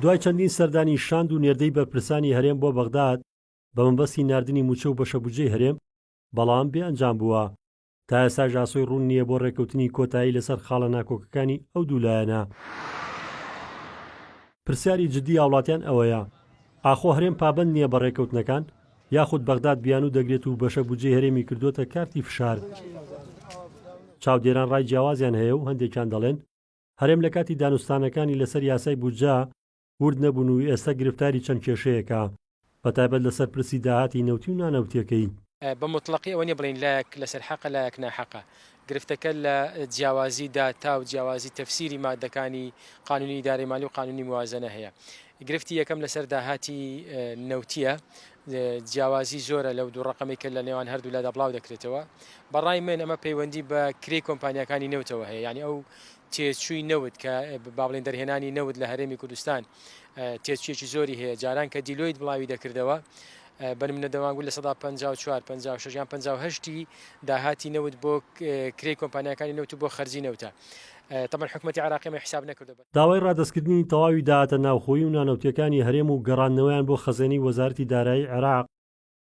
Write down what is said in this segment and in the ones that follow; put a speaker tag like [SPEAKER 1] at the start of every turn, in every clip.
[SPEAKER 1] دوای چەندین سەردانی شاند و نێردەی بەرپرسانی هەرێم بۆ بەغداد بە مەبەستی ناردنی مووچە و بەشە بودجەی هەرێم، بەڵام بێ ئەنجام بووە. تا ئێستاش ئاسۆی ڕوون نییە بۆ ڕێککەوتنی کۆتایی لەسەر خاڵە ناکۆکەکانی ئەو دوو لایەنە. پرسیاری جددی هاوڵاتیان ئەوەیە، ئاخۆ هەرێم پابەند نییە بە ڕێککەوتنەکان؟ یاخود بەغداد بیانوو دەگرێت و بەشە بودجەی هەرێمی کردووەتە کارتی فشار؟ چاودێران ڕای جیاوازیان هەیە و هەندێکیان دەڵێن، هەرێم لە کاتی دانوستانەکانی لەسەر یاسای بودجە ورد نەبوون و ئێستا گرفتاری چەند کێشەیەکە، بەتایبەت لەسەر پرسی داهاتی نەوتی و نانەوتییەکەی. بە موتڵەقی
[SPEAKER 2] ئەوە نییە بڵێین لایەک لەسەر حەقە لایەک ناحەقە، گرفتەکە لە جیاوازی داتا و جیاوازی تەفسیری ماددەکانی قانونی ئیدارەی مالی و قانونی موازەنە هەیە. گرفتی یەکەم لەسەر داهاتی نەوتییە، جیاوازی زۆرە لەو دوو ڕەقەمەی کە لە نێوان هەردوولادا بڵاو دەکرێتەوە، بە ڕای من ئەمە پەیوەندی بە کرێی کۆمپانیاکانی نەوتەوە هەیە، یانی ئەو تێچووی نەوت کە با بڵێین دەرهێنانی نەوت لە هەرێمی کوردستان تێچوویەکی زۆری هەیە، جاران کە دیلۆیت بڵاوی دەکردەوە بە نمونە دەمانگوت لە سەدا پەنجا و چوار، پەنجا و شەش یان پەنجا و هەشت ی داهاتی نەوت بۆ کرێی کۆمپانیاکانی نەوت و بۆ خەرجی نەوتە، تەبعەن حکومەتی عێراقی ئەمەی حیساب نەکردوە. داوای ڕادەستکردنی
[SPEAKER 1] تەواوی داهاتە ناوخۆیی و نانەوتییەکانی هەرێم و گەڕاندنەوەیان بۆ خەزێنەی وەزارەتی دارایی عێراق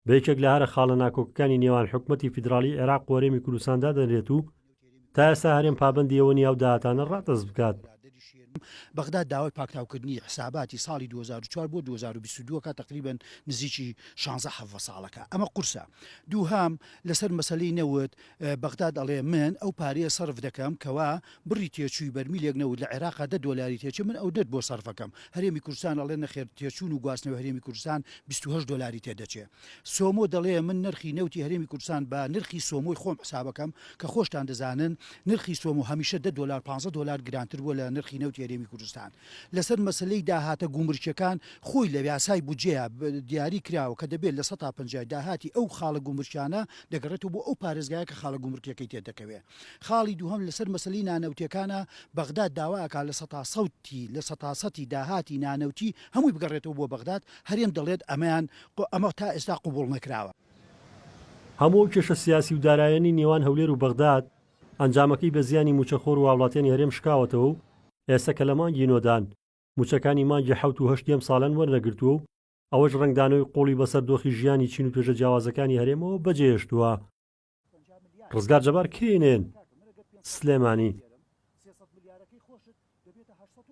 [SPEAKER 1] بە یەکێک لە هەرە خاڵە ناکۆکەکانی نێوان حکومەتی فیدراڵیی عێراق و هەرێمی کوردستان دادەنرێت و تا ئێستا هەرێم پابەندی ئەوە نییە ئەو داهاتانە ڕادەست بکات.
[SPEAKER 3] بەغداد داوای پاکتاوکردنی حساباتی ساڵی دوو هەزار و چوار بۆ دوو هەزار و بیست و دوو ئەکات تەقریبەن نزیکی شانزە حەڤە ساڵەکە ئەمە قورسە دووهەم لەسەر مەسەلەی نەوت بەغداد ئەڵێ من ئەو پارەیە سەرف دەکەم کەوا بڕی تێچووی بەرمیلێک نەوت لە عێراقا دە دۆلاری تێچێ من ئەو دەت بۆ سەرف ئەکەم هەرێمی کوردستان ئەڵێ نەخێر تێچوون و گواستنەوەی هەرێمی کوردستان بیست و هەشت دۆلاری تێدەچێ سۆمۆ دەڵێ من نرخی نەوتی هەرێمی کوردستان بە نرخی سۆمۆی خۆم حساب ئەکەم کە خۆشتان دەزانن نرخی سۆمۆ هەمیشە دە دۆلار پانزە دۆلار گرانتر بووە لە نرخی نەوتی هەرێمی کوردستان لەسەر مەسەلەی داهاتە گومرکیەکان، خۆی لە یاسای بودجەیا دیاری کراوە کە دەبێت لە سەتا پەنجای داهاتی ئەو خاڵە گومرکیانە دەگەڕێتەوە بۆ ئەو پارێزگایە کە خاڵە گومرکیەکەی تێدەکەوێت. خاڵی دووهەم لەسەر مەسەلەی نانەوتیەکانە، بەغداد داوا ئەکات لە سەتا سەتی لە سەتا سەتی داهاتی نانەوتی هەمووی بگەڕێتەوە بۆ بەغداد، هەرێم دەڵێت ئەمەیان ئەمە تا ئێستا قبوڵ نەکراوە.
[SPEAKER 1] هەموو ئەو کێشە سیاسی و دارایانەی نێوان هەولێر و بەغداد ئەنجامەکەی بە زیانی مووچەخۆر و هاوڵاتیانی هەرێم شکاوەتەوە و ئێستا کە لە مانگی نۆ دان، مووچەکانی مانگی حەوت و هەشتی ئەم ساڵیان وەرنەگرتووە و ئەوەش ڕەنگدانەوەی قووڵی بەسەر دۆخی ژیانی چین و توێژە جیاوازەکانی هەرێمەوە بەجێهێشتووە. ڕزگار جەبار، کەی نێن، سلێمانی.